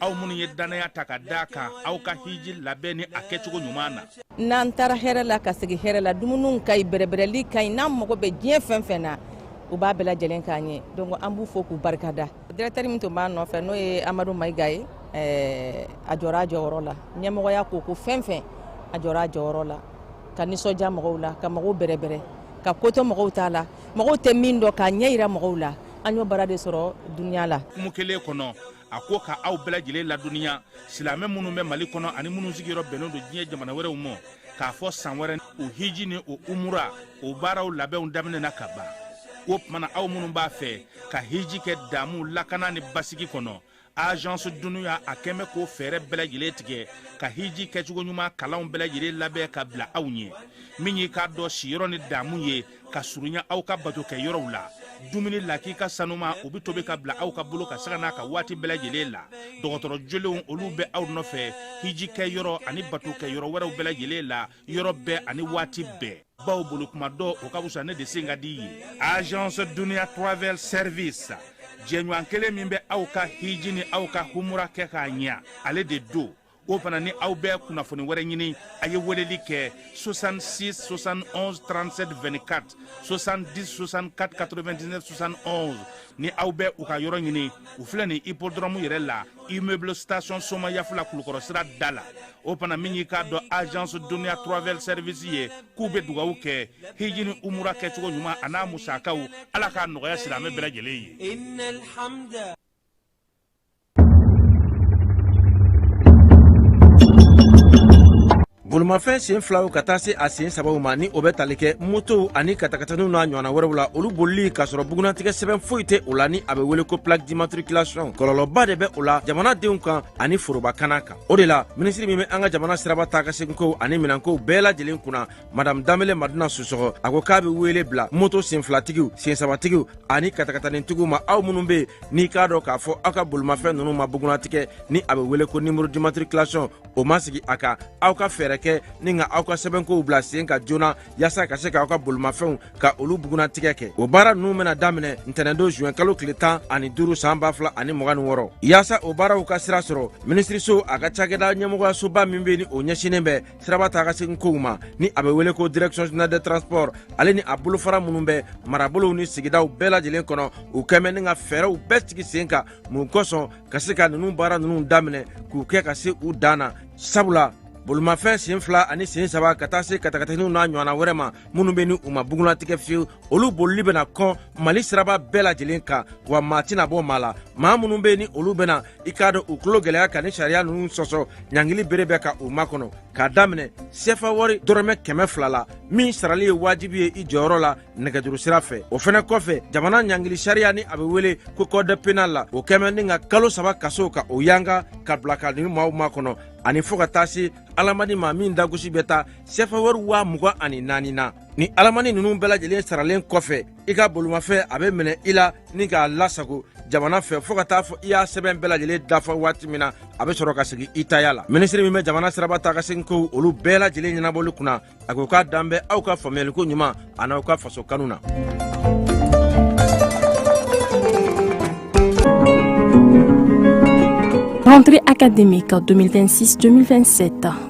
aw minnu ye dannaya ta ka da kan aw ka hiji labɛn ni a kɛcogo ɲuman na n'an taara hɛrɛ la ka segin hɛrɛ la dumuniw ka ɲi bɛrɛbɛrɛli ka ɲi n'an mago bɛ diɲɛ fɛn fɛn na u b'a bɛɛ lajɛlen k'an ye donc an b'u fo k'u barikada directeur min tun b'a nɔfɛ n'o ye amadu mayiga ye eh, a jɔra a jɔyɔrɔ la ɲɛmɔgɔya ko ko fɛn fɛn a jɔra a jɔyɔrɔ la ka nisɔndiya mɔgɔw la ka mɔgɔw bɛrɛbɛrɛ ka ko to mɔgɔw ta la mɔgɔw tɛ min dɔn k'a ɲɛ yira mɔgɔw la an y'o baara de sɔrɔ duniya la kumu kelen kɔnɔ a ko ka aw bɛɛ lajɛlen ladɔnniya silamɛ minnu bɛ mali kɔnɔ ani minnu sigiyɔrɔ bɛnnen don diɲɛ jamana wɛrɛw ma k'a fɔ san wɛrɛ o hiji ni o umura o baaraw labɛnw daminɛna ka ban o tuma na aw minnu b'a fɛ ka hiji kɛ damu lakana ni basigi kɔnɔ agence dunia a kɛn bɛ k'o fɛɛrɛ bɛɛ lajɛlen tigɛ ka hiji kɛcogo ɲuman kalanw bɛɛ lajɛlen labɛn ka bila aw ɲɛ min y'i k'a dɔn siyɔrɔ ni damu ye ka surunya aw ka bato kɛ yɔrɔw la dumuni lakika sanuman o bɛ tobi ka bila aw ka bolo kan sanga n'a ka waati bɛɛ lajɛlen la dɔgɔtɔrɔ jolenw olu bɛ aw nɔfɛ hiji kɛ yɔrɔ ani bato kɛ yɔrɔ wɛrɛw bɛɛ lajɛlen la yɔrɔ bɛɛ ani waati bɛɛ baw bolo kuma dɔ o ka fisa ne de sen ka di ye agence dunia travel service jɛɲɔgɔn kelen min bɛ aw ka hiji ni aw ka humura kɛ k'a ɲɛ ale de don o fana ni aw bɛ kunnafoni wɛrɛ ɲini a ye weleli kɛ 66 71 37 24 70 64 99 71 ni aw bɛ u ka yɔrɔ ɲini u filɛ nin hippodrome yɛrɛ la immeuble station somayafu la kulukɔrɔ sira da la o fana min y'i k'a dɔn agence dunia travel service ye k'u bɛ dugawu kɛ hiji ni umura kɛcogo ɲuman an'a musakaw ala k'a nɔgɔya silamɛ bɛɛ lajɛlen ye bolimafɛn sen filaw ka taa se a sen sabaw ma ni o bɛ tali kɛ motow ani katakataniw n'a ɲɔgɔnna wɛrɛw la olu bolili k'a sɔrɔ bugunnatigɛ sɛbɛn foyi tɛ o la ni a bɛ wele ko plaque d'immatriculation kɔlɔlɔba de bɛ o la jamanadenw kan ani foroba kana kan o de la minisiri min bɛ an ka jamana siraba taa ka seginkow ani minɛnkow bɛɛ lajɛlen kunna madame danbele madina sisɔkɔ a ko k'a bɛ wele bila moto senfilatigiw sensabatigiw ani katakatanintigiw ma aw minnu bɛ n'i k'a dɔn k'a fɔ aw ka bolimafɛn nunu ma bugunatigɛ ni a bɛ wele ko numéro d'immatriculation o ma sigi a kan aw ka fɛɛrɛ kɛ ni ka aw ka sɛbɛnkow bila sen kan joona yaasa ka se k'aw ka bolimafɛnw ka olu bugunatigɛ kɛ o baara nunu bɛna daminɛ ntɛnɛndon zuwɛn kalo tile tan ani duru san ba fila ani mugan ni wɔɔrɔ yaasa o baaraw ka sira sɔrɔ minisiriso a ka cakɛda ɲɛmɔgɔyasoba min bɛ ni o ɲɛsinnen bɛ siraba taa ka segin kow ma ni a bɛ wele ko direction générale des transports ale ni a bolofara minnu bɛ marabolow ni sigidaw bɛɛ lajɛlen kɔnɔ u kɛn bɛ ni ka fɛɛrɛw bɛɛ sigi sen kan mun kosɔn ka se ka ninnu baara ninnu daminɛ k'u kɛ ka se u dan na sabula bolimafɛn sen fila ani sen saba ka taa se katakataniw n'a ɲɔgɔnna wɛrɛ ma minnu bɛ ni u ma bugunnatigɛ fiyewu olu bolili bɛna kɔn mali siraba bɛɛ lajɛlen kan wa maa tɛna bɔ maa la maa minnu bɛ ni olu bɛna i k'a dɔn u tulo gɛlɛya ka ni sariya ninnu sɔsɔ ɲangili bere bɛ ka u makɔnɔ k'a daminɛ sefa wari dɔrɔmɛ kɛmɛ fila la min sarali ye wajibi ye i jɔyɔrɔ la nɛgɛjuru sira fɛ o fɛnɛ kɔfɛ jamana ɲangili sariya ni a bɛ wele ko code pénal la o kɛmɛ ni ka kalo saba kaso ka o yanga ka bila ka ni maaw makɔnɔ ani fɔɔ ka taa se alamani ma min dagosi bɛ taa sefa wari waa mugan ani naani na ni alamani ninnu bɛɛ lajɛlen saralen kɔfɛ i ka bolimafɛn a bɛ minɛ i la ni k'a lasago jamana fɛ fɔɔ ka taa fɔ i y'a sɛbɛn bɛɛ lajɛlen dafa waati min na a bɛ sɔrɔ ka segin i taya la minisiri min bɛ jamana siraba taa ka segin kow olu bɛɛ lajɛlen ɲɛnabɔli kunna a ko k'a dalen bɛ aw ka faamuyaliko ɲuman a n'aw ka faso kanu na Rentrée académique 2026-2027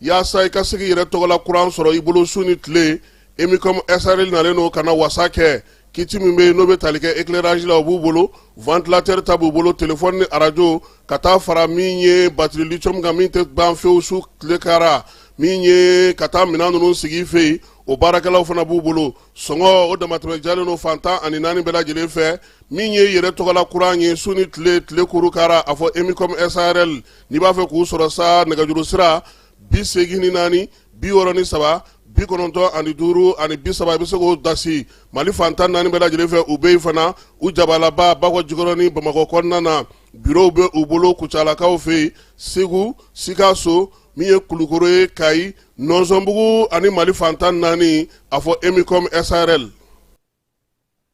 yaasa i ka se k'i yɛrɛ tɔgɔla kuran sɔrɔ i bolo su ni tile emicom srl nalen don ka na wasa kɛ kiti min bɛ yen n'o bɛ tali kɛ éclairage la o b'u bolo ventilateur ta b'u bolo telefɔni ni arajo ka taa fara min ye batiri lithium kan min tɛ ban fewu su tile kara min ye ka taa minɛn ninnu sigi i fɛ yen o baarakɛlaw fana b'u bolo sɔngɔ o damatɛmɛ jalen don fan tan ani naani bɛɛ lajɛlen fɛ min ye yɛrɛ tɔgɔla kuran ye su ni tile tile kuru kara a fɔ emicom srl n'i b'a fɛ k'u sɔrɔ sa nɛgɛjuru sira bi segin ni naani bi wɔɔrɔ ni saba bi kɔnɔntɔn ani duuru ani bi saba i bɛ se k'o dasi mali fan tan naani bɛɛ lajɛlen fɛ u bɛ yen fana u jabalaba bakɔ jikɔrɔnin bamakɔ kɔnɔna na birow bɛ u bolo kucalakaw fɛ yen segu sikaso min ye kulukoro ye kayi nɔnsɔnbugu ani mali fan tan naani a fɔ emicom srl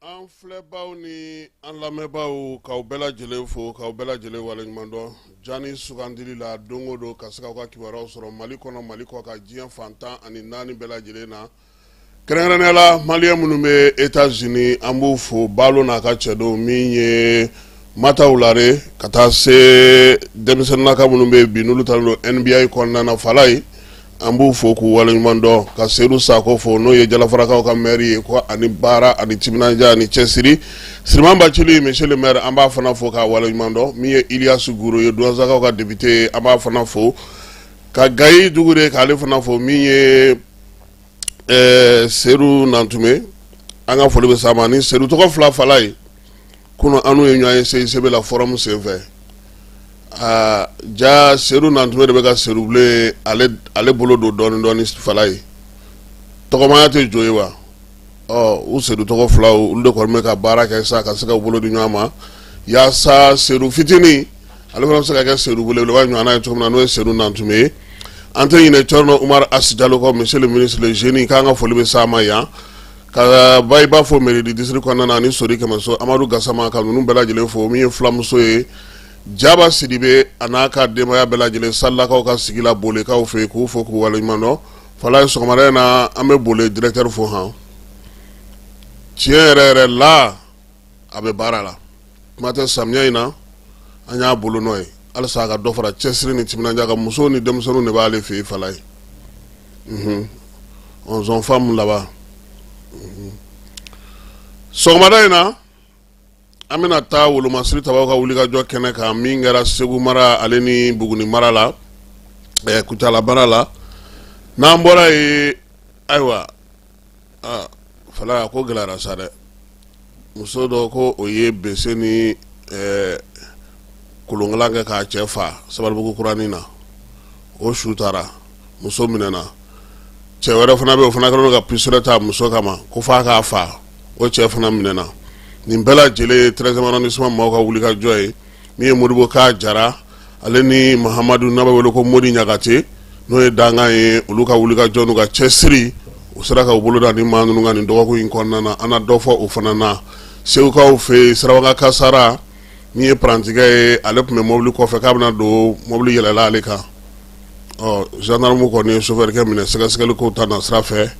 an filɛbaw ni an lamɛnbaw k'aw bɛɛ lajɛlen fo k'aw bɛɛ lajɛlen waleɲumandɔn jani sugandili la don o don ka se k'aw ka kibaruyaw sɔrɔ mali kɔnɔ mali kɔkan diɲɛ fan tan ani naani bɛɛ lajɛlen na kɛrɛnkɛrɛnnenya la maliyɛn minnu bɛ etats unis an b'u fo balo n'a ka cɛdenw min ye Mataw lare ka taa se denmisɛnninlaka minnu bɛ bi n'olu talen don NBA kɔnɔna na falaye an b'u fo k'u waleɲuman dɔn ka seyidu sakɔ fo n'o ye jalafarakaw ka mɛri ye ko a ni baara a ni timinadiya a ni cɛsiri siriman bacili monsieur le maire an b'a fana fo k'a waleɲuman dɔn min ye iliyasi goro ye duwanzakaw ka depite an b'a fana fo ka gayi dukure k'ale fana fo min ye ɛɛ seyidu nantume an ka foli bɛ s'a ma ni seyidu tɔgɔ fila falaye kunun an n'u ye ɲɔgɔn ye CICB la fɔrɔmu senfɛ aa jaa seyidu nantume de bɛ ka seyidu bile ale bolo don dɔɔnin dɔɔnin falaye tɔgɔmaya tɛ jo ye wa ɔ u seyidu tɔgɔ filaw olu de kɔni bɛ ka baara kɛ sa ka se ka bolo di ɲɔgɔn ma yaasa seyidu fitinin ale fana bɛ se ka kɛ seyidu belebeleba ɲɔgɔnna ye cogo min na n'o ye Seyidu Nantume ye an tɛ ɲinɛ Cɔrɔnɔ Umaru Asi Jalo kɔ monsieur le ministre le jeune k'an ka foli bɛ s'a ma yan ka Bayiba fo mairie du district kɔnɔna na ani Sori Kɛmɛso Amadu Gasama ka ninnu bɛɛ lajɛlen fo min ye fulamuso ye Jaba Sidibe a n'a ka denbaya bɛɛ lajɛlen Salakaw ka sigi la Bolekaw fɛ yen k'u fo k'u waleɲuman dɔn Falaye sɔgɔmada in na an bɛ Bole directeur fo han tiɲɛ yɛrɛ yɛrɛ la a bɛ baara la kuma tɛ samiya in na an y'a bolo nɔ ye halisa a ka dɔ fara cɛsiri ni timinandiya kan musow ni denmisɛnninw de b'ale fɛ yen falaye unhun onze femmes là-bas unhun sɔgɔmada in na an bɛna taa wolomasiri tabaw ka wulikajɔ kɛnɛ kan min kɛra segu mara ale ni buguni mara la ɛɛ kucala mara la n'an bɔra yen ayiwa falaye a ko gɛlɛyara sa dɛ muso dɔ ko o ye bese ni kolonkalan kɛ k'a cɛ faa sabalibugu kuranin na o su taara muso minɛna cɛ wɛrɛ fana bɛ yen o fana kɛlen don ka pistolet ta muso kama k'o faa k'a faa o cɛ fana minɛna nin bɛɛ lajɛlen ye treizième arrondissement maaw ka wulikajɔ ye min ye modibo ka jara ale ni mahamadu n'a bɛ wele ko modi ɲagate n'o ye dankan ye olu ka wulikajɔ n'u ka cɛsiri u sera k'u bolo da nin maa ninnu kan nin dɔgɔkun in kɔnɔna na an na dɔ fɔ o fana na segukaw fɛ yen sirabakan kasara min ye parantikɛ ye ale tun bɛ mobili kɔfɛ k'a bɛna don mobili yɛlɛla ale kan ɔ zandarmu kɔni ye sofɛrikɛ minɛ sɛgɛsɛgɛli ko ta na sira fɛ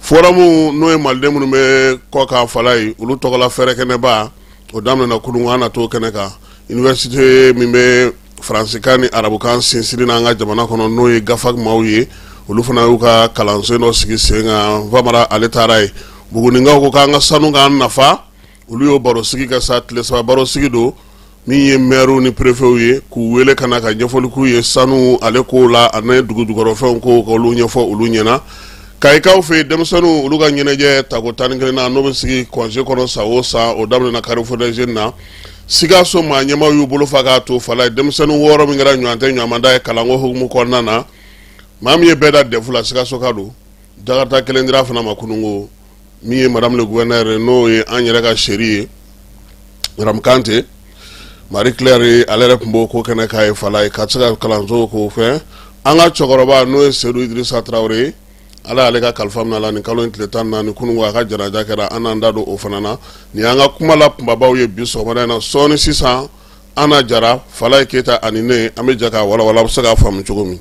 forum n'o ye maliden minnu bɛ kɔkan falaye olu tɔgɔla fɛrɛkɛnɛba o daminɛna kunun an na t'o kɛnɛ kan université min bɛ faransikan ni arabukan sinsin n' an ka jamana kɔnɔ n'o ye gafa maaw ye olu fana y'u ka kalanso dɔ sigi sen kan famara ale taara yen bugunikaw ko k'an ka sanu k'an nafa olu y'o baro sigi kɛ sa tile saba baro sigi don min ye mɛriw ni perefew ye k'u wele ka na ka ɲɛfɔli k'u ye sanu ale ko la ani dugujukɔrɔfɛnw ko ka olu ɲɛfɔ olu ɲɛna Kayikaw fɛ yen denmisɛnninw olu ka ɲɛnajɛ tako tan ni kelennan n'o bɛ sigi congé kɔnɔ san o san o daminɛna Carrefour des Jeunes na sikaso maa ɲɛmaw y'u bolo fa k'a to falaye denmisɛnnin wɔɔrɔ min kɛra ɲɔgɔn tɛ ɲɔgɔnda ye kalanko hukumu kɔnɔna na maa min ye bɛɛ dan dɛfu la sikasoka don jakarta kelen dira fana ma kununko min ye madame le gouverneur ye n'o ye an yɛrɛ ka chérie ye madame kante marie claire ale yɛrɛ tun b'o ko kɛnɛ kan yen falaye ka se ka kalanso k'o fɛ an ka cɛkɔrɔba n'o ye seyidu idirisa tarawele ye ala y'ale ka kalifa minɛ a la nin kalo in tile tan ni naani kununko a ka janaja kɛra an n'an da don o fana na nin an ka kumala kunbabaw ye bi sɔgɔmada in na sɔɔni sisan ana jara falaye keyita ani ne an bɛ jɛ k'a walawala a bɛ se ka faamu cogo min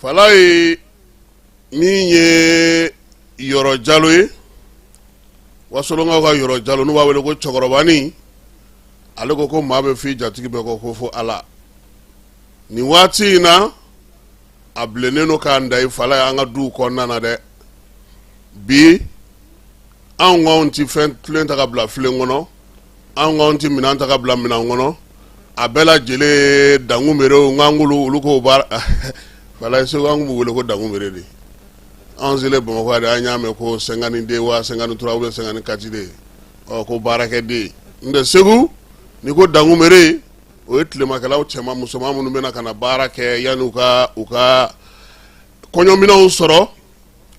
falayi min ye yɔrɔ jalo ye wasolonkaw ka yɔrɔ jalo n'u b'a wele ko cɛkɔrɔbanin ale ko ko maa bɛ f'i jatigi bɛɛ kɔ ko fo ala nin waati in na a bilennen don k'a da i falayi an ka duw kɔnɔna na dɛ bi anw k'anw tɛ fɛn filen ta ka bila filen kɔnɔ anw k'anw tɛ minɛn ta ka bila minɛn kɔnɔ a bɛɛ lajɛlen ye dangumerew nk'an k'olu olu k'o baara falayi segu an tun b'u wele ko dangumere de anw selen bamakɔ yan de an y'a mɛn ko cinquante-deux wa cinquante-trois ou bien cinquante-quatre de ɔ ko baarakɛden n'o tɛ segu n'i ko dangumere o ye tilemakɛlaw cɛman musoman minnu bɛna ka na baara kɛ yanni u ka u ka kɔɲɔminɛnw sɔrɔ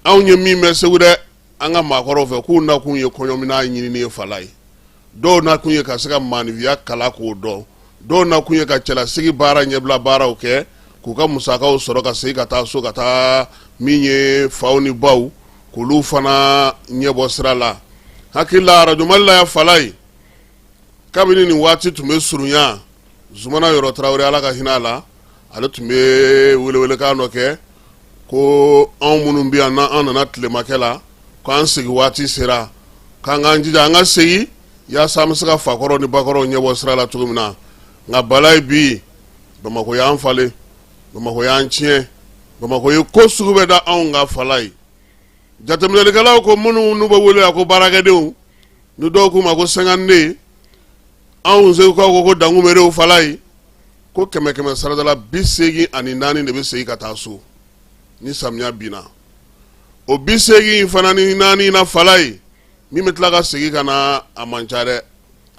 anw ye min mɛn segu dɛ an ka maakɔrɔw fɛ k'u nakun ye kɔɲɔminɛn ɲinini ye falayi dɔw nakun ye ka se ka maaninfinya kalan k'o dɔn dɔw nakun ye ka cɛlasigi baara ɲɛbila baaraw kɛ k'u ka musakaw sɔrɔ ka segin ka taa so ka taa min ye faw ni baw k'olu fana ɲɛbɔ sira la hakili la arajo mali la yan falayi kabini nin waati tun bɛ surunya zumana yɔrɔ tarawele ala ka hinɛ a la ale tun bɛ welewelekan dɔ kɛ ko anw minnu bɛ yan n'an an nana tilemakɛ la k'an segin waati sera k'an k'an jija an ka segin yaasa an bɛ se ka fakɔrɔ ni bakɔrɔw ɲɛbɔ sira la cogo min na nka falayi bi bamakɔ y'an falen bamakɔ y'an tiɲɛ bamakɔ ye ko sugu bɛɛ da anw kan falayi jateminɛlikɛlaw ko minnu n'u bɛ wele yan ko baarakɛdenw ni dɔw k'u ma ko cinquante-deux anw segukaw ko ko dangumerew falayi ko kɛmɛ kɛmɛ sarada la bi seegin ani naani de bɛ segin ka taa so ni samiya binna o bi seegin fana ni naani na falayi min bɛ tila ka segin ka na a man ca dɛ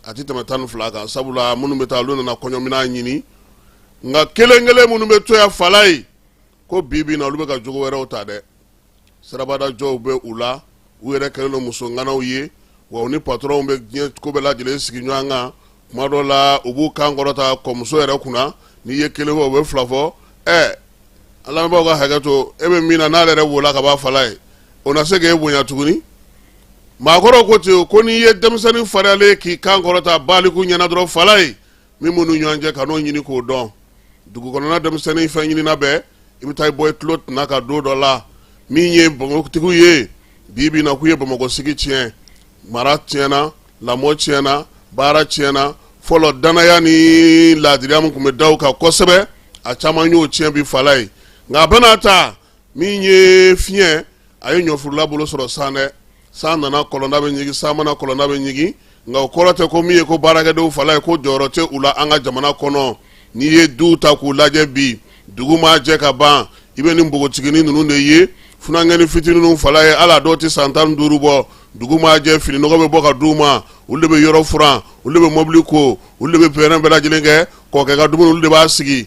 a tɛ tɛmɛ tan ni fila kan sabula minnu bɛ taa olu nana kɔɲɔminɛn ɲini nka kelen kelen minnu bɛ to yan falayi ko bi bi in na olu bɛ ka jogo wɛrɛw ta dɛ sirabadajɔw bɛ u la u yɛrɛ kɛlen don muso ŋanaw ye wa u ni patɔrɔnw bɛ diɲɛ ko bɛɛ lajɛlen sigi ɲɔgɔn kan tuma dɔ la u b'u kan kɔrɔta kɔmuso yɛrɛ kunna n'i ye kelen fɔ u bɛ fila fɔ ɛ an lamɛnbaaw ka hakɛ to e bɛ min na n'ale yɛrɛ b'o la ka ban falayi o na se k'e bonya tuguni maakɔrɔw ko ten ko n'i ye denmisɛnnin fariyalen k'i kan kɔrɔta baliku ɲɛna dɔrɔn falayi min b'u ni ɲɔgɔn cɛ ka n'o ɲini k'o dɔn dugukɔnɔna denmisɛnnin fɛn ɲinina bɛɛ i bɛ taa i bɔ i tulo tɛna ka don dɔ la min ye bamakɔtigiw ye bi bi na k'u ye bamakɔ sigi tiɲɛ mara tiɲɛna lamɔ tiɲɛna baara tiɲɛna fɔlɔ danaya ni laadiriya min tun bɛ da u kan kosɛbɛ a caman y'o tiɲɛ bi falayi nka a bɛna ta min ye fiɲɛ a ye ɲɔfurula bolo sɔrɔ san dɛ san nana kɔlɔnda bɛ ɲigin san ma na kɔlɔnda bɛ ɲigin nka o kɔrɔ tɛ ko min ye ko baarakɛdenw falaye ko jɔyɔrɔ tɛ u la an ka jamana kɔnɔ n'i ye duw ta k'u lajɛ bi dugu ma jɛ ka ban i bɛ nin npogotiginin ninnu de ye funankɛni fitinin ninnu falaye a la dɔw tɛ san tan duuru bɔ dugu ma jɛ fini nɔgɔ bɛ bɔ ka di u ma olu de bɛ yɔrɔ furan olu de bɛ mobili ko olu de bɛ fɛɛrɛ bɛɛ lajɛlen kɛ kɔkɛ ka dumuni olu de b'a sigi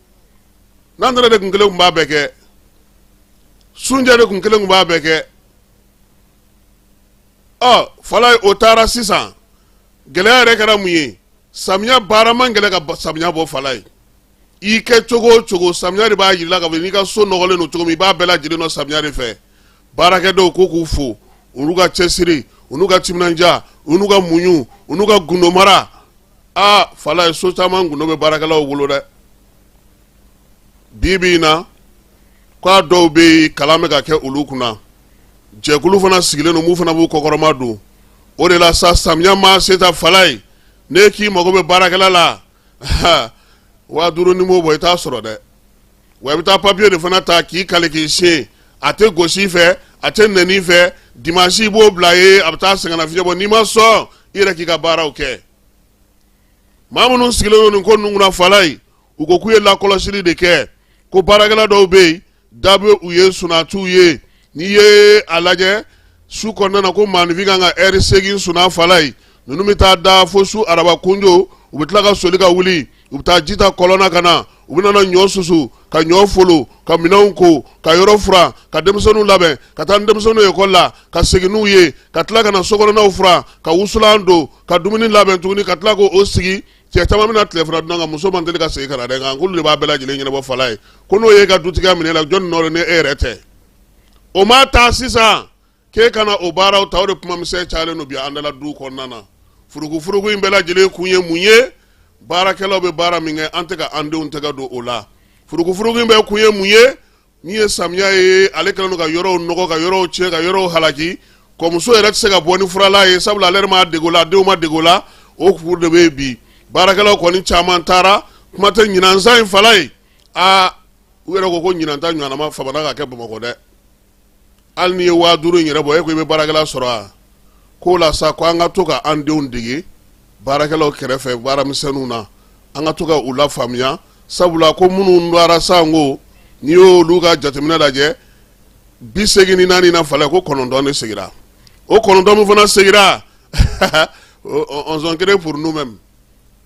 nantɛnɛ de kun kelen kun b'a bɛɛ kɛ sunjɛ de kun kelen kun b'a bɛɛ kɛ ɔ falaye o taara sisan gɛlɛya yɛrɛ kɛra mun ye samiya baara man gɛlɛ ka samiya bɔ falaye i kɛ cogo o cogo samiya de b'a yirila ka fɔ n'i ka so nɔgɔlen don cogo min i b'a bɛɛ lajɛlen dɔn samiya de fɛ baarakɛdenw ko k'u fo olu ka cɛsiri olu ka timinanja olu ka muɲu olu ka gundomara aa falaye so caman gundo bɛ baarakɛlaw bolo dɛ bi bi in na k'a dɔw bɛ yen kalan bɛ ka kɛ olu kunna jɛkulu fana sigilen don minnu fana b'u kɔkɔrɔma don o de la sa samiya ma se ta falaye n'e k'i mago bɛ baarakɛla la waa duuru n'i m'o bɔ i t'a sɔrɔ dɛ wa i bɛ taa papiye de fana ta k'i kali k'i siɲɛ a tɛ gosi fɛ a tɛ nɛni fɛ dimansi i b'o bila yen a bɛ taa sɛgɛnnafiɲɛ bɔ n'i ma sɔn i yɛrɛ k'i ka baaraw kɛ maa minnu sigilen don nin ko ninnu kunna falaye u ko k'u ye lakɔlɔsili de kɛ ko baarakɛla dɔw bɛ yen da bɛ u ye sunatiw ye n'i ye a lajɛ su kɔnɔna na ko maanifin kan ka ɛri seegin sunan falaye ninnu bɛ taa da fo su araba kunjo u bɛ tila ka soli ka wuli u bɛ taa ji ta kɔlɔn na ka na u bɛna na ɲɔ susu ka ɲɔ folo ka minɛnw ko ka yɔrɔ furan ka denmisɛnninw labɛn ka taa ni denmisɛnninw ye ekɔli la ka segin n'u ye ka tila ka na sokɔnɔnaw furan ka wusulan don ka dumuni labɛn tuguni ka tila k'o sigi cɛ caman bɛna tilefana dun a ka muso man teli ka segin ka na dɛ nka k'olu de b'a bɛɛ lajɛlen ɲɛnabɔ falaye ko n'o y'i ka dutigiya minɛ i la jɔni nɔ don ni e yɛrɛ tɛ o ma taa sisan k'e kana o baaraw ta o de kumamisɛn cayalen don bi an da la du kɔnɔna na furukufuruku in bɛɛ lajɛlen kun ye mun ye baarakɛlaw bɛ baara min kɛ an tɛ ka an denw tɛgɛ don o la furukufuruku in bɛɛ kun ye mun ye min ye samiya ye ale kɛlen don ka yɔrɔw nɔgɔ ka yɔrɔw tiɲɛ ka yɔrɔw halaki kɔmuso yɛrɛ tɛ se ka bɔ ni furalan ye sabula ale yɛrɛ ma dege o la denw ma dege o la o kuru de bɛ yen bi baarakɛlaw kɔni caman taara kuma tɛ ɲinansan in falaye aa u yɛrɛ ko ko ɲinan ta ɲɔgɔnna famana ka kɛ bamakɔ dɛ hali n'i ye waa duuru in yɛrɛ bɔ e ko i bɛ baarakɛla sɔrɔ a k'o la sa ko an ka to ka an denw dege baarakɛlaw kɛrɛfɛ baaramisɛnninw na an ka to ka u lafaamuya sabula ko minnu dara san ko n'i y'olu ka jateminɛ lajɛ bi segin ni naani na falayi ko kɔnɔntɔn de segira o kɔnɔntɔn min fana segira on s'en crée pour nous-mêmes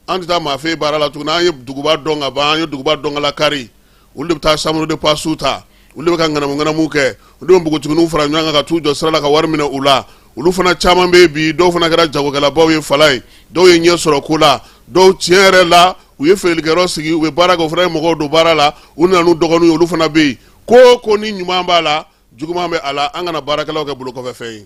an tɛ taa maa fɛ baara la tuguni an ye duguba dɔn ka ban an ye duguba dɔn ka lakari olu de bɛ taa chambre de passe ta olu de bɛ ka ŋanamu ŋanamu kɛ olu de bɛ npogotigininw fara ɲɔgɔn kan ka t'u jɔ sira la ka wari minɛ u la olu fana caman bɛ bi dɔw fana kɛra jagokɛlabaw ye falayi dɔw ye ɲɛ sɔrɔ ko la dɔw tiɲɛ yɛrɛ la u ye feerelikɛyɔrɔ sigi u bɛ baara kɛ u fana ye mɔgɔw don baara la u nana n'u dɔgɔninw ye olu fana bɛ yen ko ko ni ɲuman b'a la juguman bɛ a la an kana baarakɛlaw kɛ bolokɔfɛfɛn ye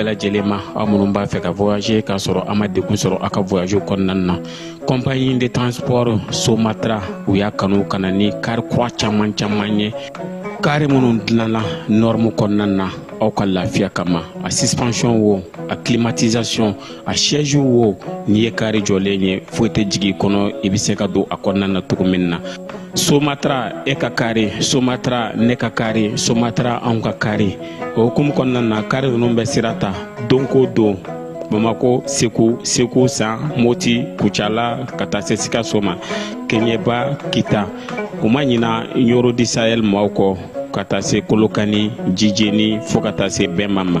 bɛɛ lajɛlen ma aw minnu b'a fɛ ka voyager k'a sɔrɔ a ma degun sɔrɔ a ka voyage kɔnɔna na compagnie de transport somatra u y'a kanu ka na ni kari kura caman caman ye kari minnu dilanna norme kɔnɔna na aw ka lafiya kama a suspension wo a climatisation a siège wo n'i ye kari jɔlen ye foyi tɛ jigin kɔnɔ i bɛ se ka don a kɔnɔna na cogo min na somatra e ka kari somatra ne ka kari somatra anw ka kari o hukumu kɔnɔna na kari ninnu bɛ sira ta don ko don bamako segu segu san moti kucala ka taa se sikaso ma keɲeba kita u ma ɲina ɲoro du sahel maaw kɔ ka taa se kolokani jijeni fo ka taa se bema ma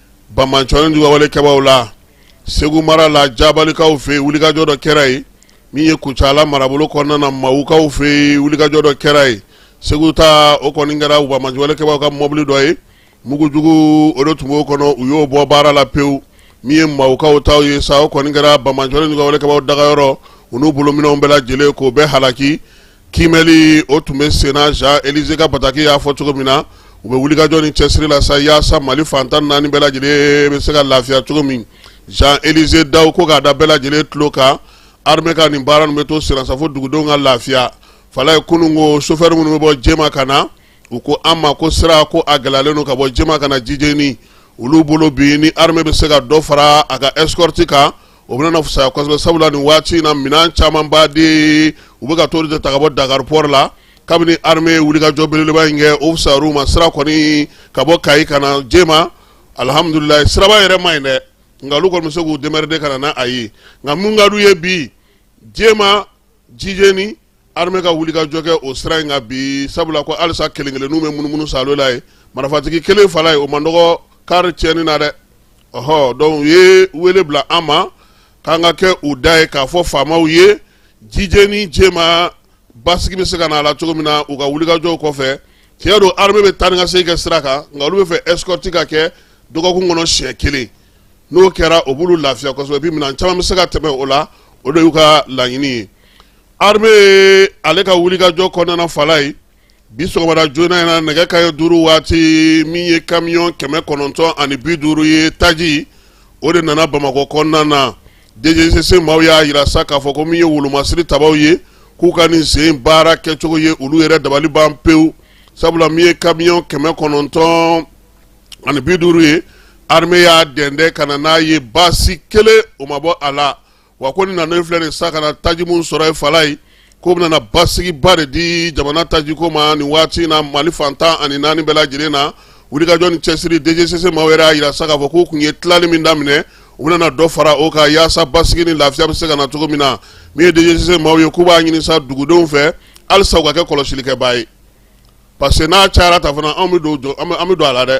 banbaatɔ nijuguya walekɛbaaw la segu mara la jabalikaw fɛ yen wulikajɔ dɔ kɛra yen min ye kucala marabolo kɔnɔna na mawukaw fɛ yen wulikajɔ dɔ kɛra yen segu ta o kɔni kɛra banbaanciwalekɛbaaw ka mɔbili dɔ ye mugujugu o de tun b'o kɔnɔ u y'o bɔ baara la pewu min ye mawukaw ta ye sa o kɔni kɛra banbaatɔ nijuguya walekɛbaaw dagayɔrɔ u n'u bolominɛnw bɛɛ lajɛlen k'o bɛɛ halaki Kiimɛli o tun bɛ senna Jean Élisée ka bataki y'a fɔ cogo min na, u bɛ wulikajɔ ni cɛsiri la sa yaasa Mali fan tan ni naani bɛɛ lajɛlen bɛ se ka lafiya cogo min. Jean Élisée Dawu ko k'a da bɛɛ lajɛlen tulo kan, armée ka nin baara ninnu bɛ to senna sa fo dugudenw ka lafiya. Falayi kunun ko chauffeur minnu bɛ bɔ Jema ka na, u ko an ma ko sira ko a gɛlɛyalen don ka bɔ Jema ka na Jijeni, olu bolo bi ni armée bɛ se ka dɔ fara a ka escorte kan, o bɛna fisaya kosɛbɛ sabula nin waati in na minɛn camanba de u bɛ ka t'o de ta ka bɔ Dakar port la kabini armée ye wulikajɔ belebeleba in kɛ o fisayara u ma sira kɔni ka bɔ Kayi ka na Jema alihamudulilayi siraba yɛrɛ man ɲi dɛ nka olu kɔni bɛ se k'u démerder ka na n'a ye nka mun ka d'u ye bi Jema Jijeni Armée ka wulikajɔ kɛ o sira in kan bi sabula ko alisa kelen kelenninw bɛ munumunu sa la ye marifatigi kelen fala ye o man dɔgɔ kari tiɲɛni na dɛ ɔɔ donc u ye wele bila an ma k'an ka kɛ u da ye k'a fɔ faamaw ye Jijeni Jema basigi bɛ se ka na a la cogo min na u ka wulikajɔw kɔfɛ tiɲɛ don armée bɛ taa ni ka segin kɛ sira kan nka olu b'a fɛ escorte ka kɛ dɔgɔkun kɔnɔ siɲɛ kelen n'o kɛra o b'olu lafiya kosɛbɛ minɛn caman bɛ se ka tɛmɛ o la o de y'u ka laɲini ye armée ye ale ka wulikajɔ kɔnɔna fala ye bi sɔgɔmada joona in na nɛgɛ kanɲɛ duuru waati min ye kamiyɔn kɛmɛ kɔnɔntɔn ani bi duuru ye taji o de nana bamakɔ kɔnɔna na DGCC maaw y'a jira sa k'a fɔ ko min ye wolomasiri tabaw ye k'u ka nin sen baara kɛcogo ye olu yɛrɛ dabali ban pewu sabula min ye kamiyɔn kɛmɛ kɔnɔntɔn ani bi duuru ye armée y'a dɛndɛ ka na n'a ye baasi kelen o ma bɔ a la wa ko ni an filɛ de sa ka na taji min sɔrɔ ye fala ye ko bɛna na basigiba de di jamana tajiko ma nin waati na mali fan tan ani naani bɛɛ lajɛlen na wulikajɔ ni cɛsiri DGCC maaw yɛrɛ y'a jira sa k'a fɔ k'u kun ye tilali min daminɛ u bɛna na dɔ fara o kan yaasa basigi ni lafiya bɛ se ka na cogo min na min ye DGCC maaw ye k'u b'a ɲini sa dugudenw fɛ halisa u ka kɛ kɔlɔsilikɛbaa ye parce que n'a cayara ta fana anw bɛ don a la dɛ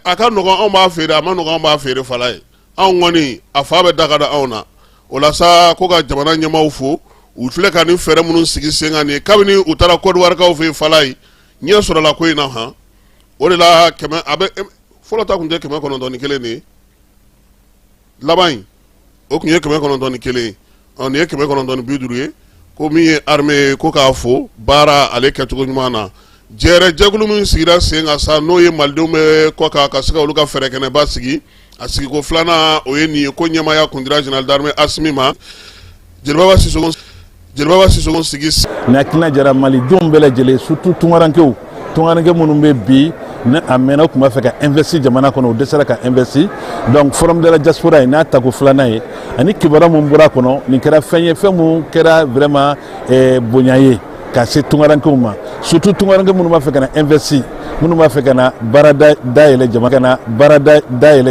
a ka nɔgɔn anw b'a feere a man nɔgɔn anw b'a feere fala ye anw kɔni a fa bɛ daga da anw na o la sa ko ka jamana ɲɛmaaw fo u filɛ ka nin fɛɛrɛ minnu sigi sen kan nin kabini u taara kɔdiwarikaw fɛ yen fala ye ɲɛ sɔrɔla ko in na han o de la kɛmɛ a bɛ fɔlɔ ta kun tɛ kɛmɛ kɔnɔntɔn ni kelen de ye laban in o kun ye kɛmɛ kɔnɔntɔn ni kelen ye ɔ nin ye kɛmɛ kɔnɔntɔn ni bi duuru ye ko min ye armée ye ko k'a fo baara ale kɛcogo ɲuman na jɛɛrɛ jɛkulu min sigira sen kan sa n'o ye malidenw bɛ kɔkan ka se ka olu ka fɛrɛkɛnɛba sigi a sigiko filanan o ye nin ye k'o ɲɛmaaya kun dira général d'armée Asimi ma Jelibaba Sisoko Jelibaba Sisoko sigi nin hakilina jara malidenw bɛɛ lajɛlen surtout tunkarankew tungaranke minnu bɛ bi n'a mɛnna u tun b'a fɛ ka investi jamana kɔnɔ u dɛsɛra ka investi donc forum de la diaspora ye n'a tako filanan ye ani kibaruya min bɔra a kɔnɔ nin kɛra fɛn ye fɛn min kɛra vraiment eh, bonya ye ka se tungarankew ma surtout tungaranke minnu b'a fɛ ka na investi minnu b'a fɛ ka na baara dayɛlɛ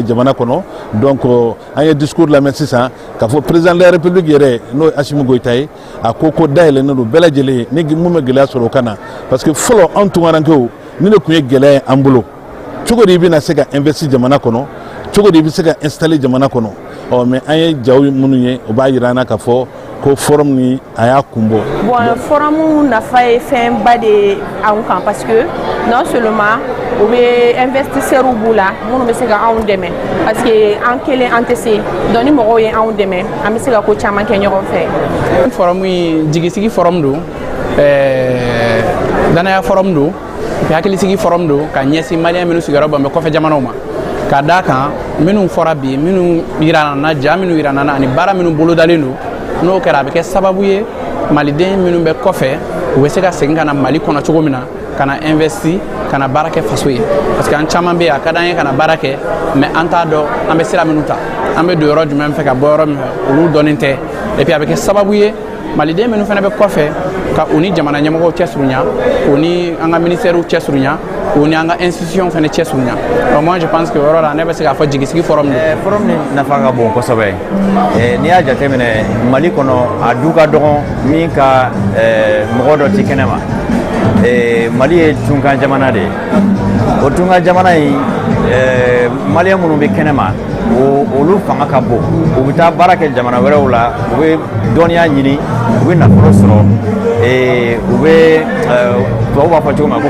jamana kɔnɔ donc an ye discours lamɛn sisan k'a fɔ président de la république yɛrɛ n'o ye Asimi Goyita ye a ko ko dayɛlɛnnen don bɛɛ lajɛlen ye ni mun bɛ gɛlɛya sɔrɔ o ka na parce que fɔlɔ anw tunkarankew nin de tun ye gɛlɛya ye an bolo cogo di i bɛna se ka investi jamana kɔnɔ cogo di i bɛ se ka installer jamana kɔnɔ ɔ mais an ye jaw minnu ye o b'a jira an na k'a fɔ ko forum nin a y'a kun bɔ. bon forum nafa ye fɛnba de ye. anw kan parce que non seulement u bɛ investisseurs b'u la minnu bɛ se ka anw dɛmɛ parce que an kelen an tɛ se donc ni mɔgɔw ye anw dɛmɛ an bɛ se ka ko caman kɛ ɲɔgɔn fɛ. forum in jigisigi forum don danaya forum don hakilisigi forum don ka ɲɛsin maliyɛn minnu sigiyɔrɔ bɛn bɛ kɔfɛ jamanaw ma. ka d'a kan minnu fɔra bi minnu yirana an na ja minnu yirana an na ani baara minnu bolodalen don n'o kɛra a bɛ kɛ sababu ye maliden minnu bɛ kɔfɛ u bɛ se ka segin ka na mali kɔnɔ cogo min na ka na investi ka na baara kɛ faso ye parce que an caman bɛ yen a ka d'an ye ka na baara kɛ mais an t'a dɔn an bɛ sira minnu ta an bɛ don yɔrɔ jumɛn fɛ ka bɔ yɔrɔ min fɛ olu dɔnnen tɛ et puis a bɛ kɛ sababu ye maliden minnu fana bɛ kɔfɛ ka u ni jamana ɲɛmɔgɔw cɛ surunya u ni an ka ministɛriw cɛ surunya u ni an ka institution fana cɛ surunya donc moi je pense que o yɔrɔ la ne bɛ se k'a fɔ jigisigi forum don forum nafa ka bon kosɛbɛ n'i y'a jateminɛ mali kɔnɔ a du ka dɔgɔn min ka mɔgɔ dɔ tɛ kɛnɛ ma mali ye tunkan jamana de ye o tunkan jamana in maliyɛn minnu bɛ kɛnɛ ma olu fanga ka bon u bɛ taa baara kɛ jamana wɛrɛw la u bɛ dɔnniya ɲini u bɛ nafolo sɔrɔ u bɛ tubabu b'a fɔ cogo min na ko